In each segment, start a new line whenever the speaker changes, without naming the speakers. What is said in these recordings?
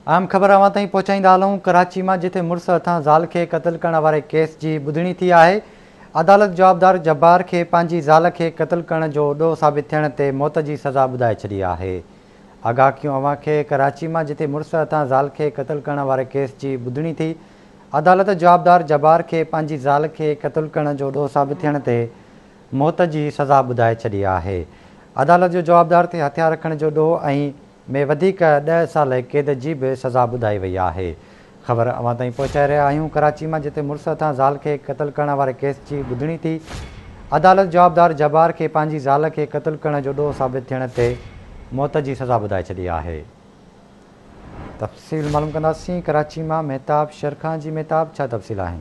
اهم خبر اوهان تائين پهچائيندا هلون، ڪراچي مان جتي مڙس هٿان زال کي قتل ڪرڻ واري ڪيس جي ٻڌڻي ٿي آهي، عدالت جوابدار جبار کي پنهنجي زال کي قتل ڪرڻ جو ڏوهه ثابت ٿيڻ تي موت جي سزا ٻڌائي ڇڏي آهي. آگاهه ڪيون اوهان کي، ڪراچي مان جتي مڙس هٿان زال کي قتل ڪرڻ واري ڪيس جي ٻڌڻي ٿي، عدالت جوابدار جبار کي پنهنجي زال کي قتل ڪرڻ جو ڏوهه ثابت ٿيڻ تي موت جي سزا ٻڌائي ڇڏي آهي. عدالت جو جوابدار تي هٿيار رکڻ جو ڏوهه ۽ ۾ وڌيڪ ڏهه سال قيد جي به سزا ٻڌائي وئي آهي خبر اوهان تائين پهچائي رهيا آهيون ڪراچي مان جتي مڙس هٿان زال کي قتل ڪرڻ واري ڪيس جي ٻڌڻي ٿي عدالت جوابدار جبار کي پنهنجي زال کي قتل ڪرڻ جو ڏوهه ثابت ٿيڻ تي موت جي سزا ٻڌائي ڇڏي آهي تفصيل معلوم ڪنداسين ڪراچي مان مهتاب شيرخان جي مهتاب ڇا تفصيل آهن.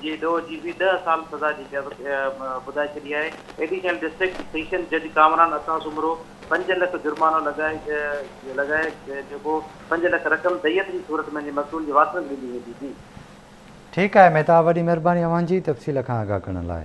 جي ڏوهه جي به ڏهه سال سزا جي قيد ٻڌائي ڇڏي آهي. ايڊيشنل ڊسٽرڪٽ سيشن جج ڪامران عطا سومرو پنج لک جرمانو لڳائي جيڪو پنج لک رقم ديت جي صورت ۾ انهي مقتول جي وارثن کي ڏني ويندي. جي.
ٺيڪ
آهي
مهتاب وڏي مهرباني اوهان جي تفصيل کان آگاهه ڪرڻ لاء.